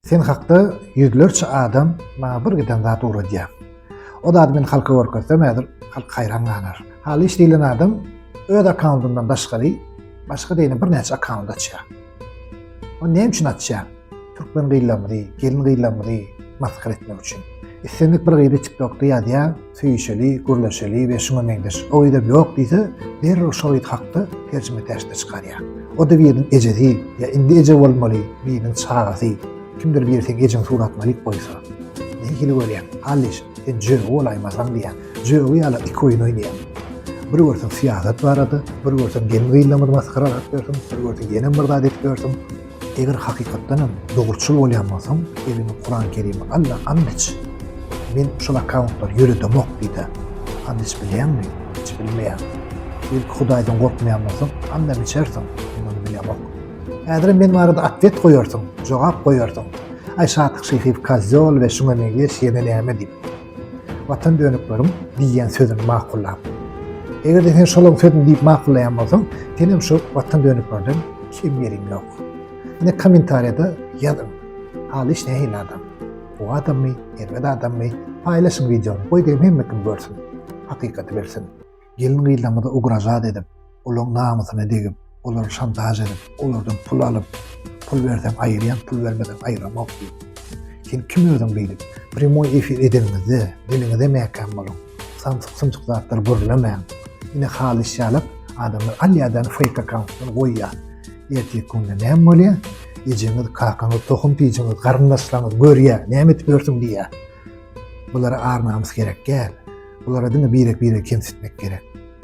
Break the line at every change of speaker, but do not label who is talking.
Sen hakda ýüzlerçe adam maňa bir giden zat ugradýar. O zady men halka görkezsem häzir halk haýran galar. Halyş diýlen adam öz akkauntyndan daşgary başga deýne birnäçe akkaunt açýar. O näme üçin açýar? Türkmen gyzlarymyzy, gelin gyzlarymyzy masgara etmek üçin. Islendik bir gyzy TikTokda ýazýar, söýüşeli, gürleşeli we şuňa meňzeş. O edep ýok diýse, derrew şo ýit hakda terjime terşde çykarýar. O-da biriniň ejesi, ýa indi eje bolmaly, biriniň çagasy, kimdir biri seň ejeň suratyn alyp goýsa. Ne hili görýäň, Alliş, sen jögi bolaýmasaň diýýär. Jögi ýaly iki oýun oýnaýar. Bir görseň syýasat barada, bir görseň gelin-gyzlarymyzy masgara edip ýörsüň, bir görseň ýene bir zat edip ýörsüň. Eger hakykatdan hem dogruçyl bolýan bolsaň, eliňe Kuran Kerimi al-da anneç. Men şol akkauntlary ýöredemok diýdä. Anneç bilýäňmi? Hiç bilmeýän. Belki Hudaýdan gorkmaýan bolsaň, annem içersiň. Men ony bilemok. Häzirem men barada atwet goýarsyň, jogap goýarsyň. Aý Şatyk Şyhyýew kozýol we şuňa meňzeş ýene näme diýip. Watan dönüklerim diýýän sözüni makullap. Eger-de sen şolaryň sözüni diýip makullaýan bolsaň, sen hem şu watan dönüklerden kim ýeriň ýok. Ine kommentariýada ýazyň. Halyş nähili adam? Bu adammy, erbet adammy? Paýlaşyň wideony, goý diýen hemme kim görsün. Hakykaty bilsin. Gelin-gyzlarymyzy ugražat edip, olaryň namysyna degip, olary şantaž edip, olardan pul alyp, pul berseň aýyrýan, pul bermeseň aýyramok diýip. Sen kim özüň beýdip? Primoý efir edeniňizde, diliňize mäkäm boluň. Samsyk-sumsyk zatlar gürlemäň. Ine halys ýalyk adamlar alýadan feýk akkauntdan goýýar. Ertirki günde näme bolýar? Ejeňiz, kakaňyz, tohum-tijiňiz, garyndaşlaryňyz görýär, näme edip ýörsüň diýýär. Bulara ar-namys gerek däl. Bulara diňe birek-biregi kemsitmek gerek.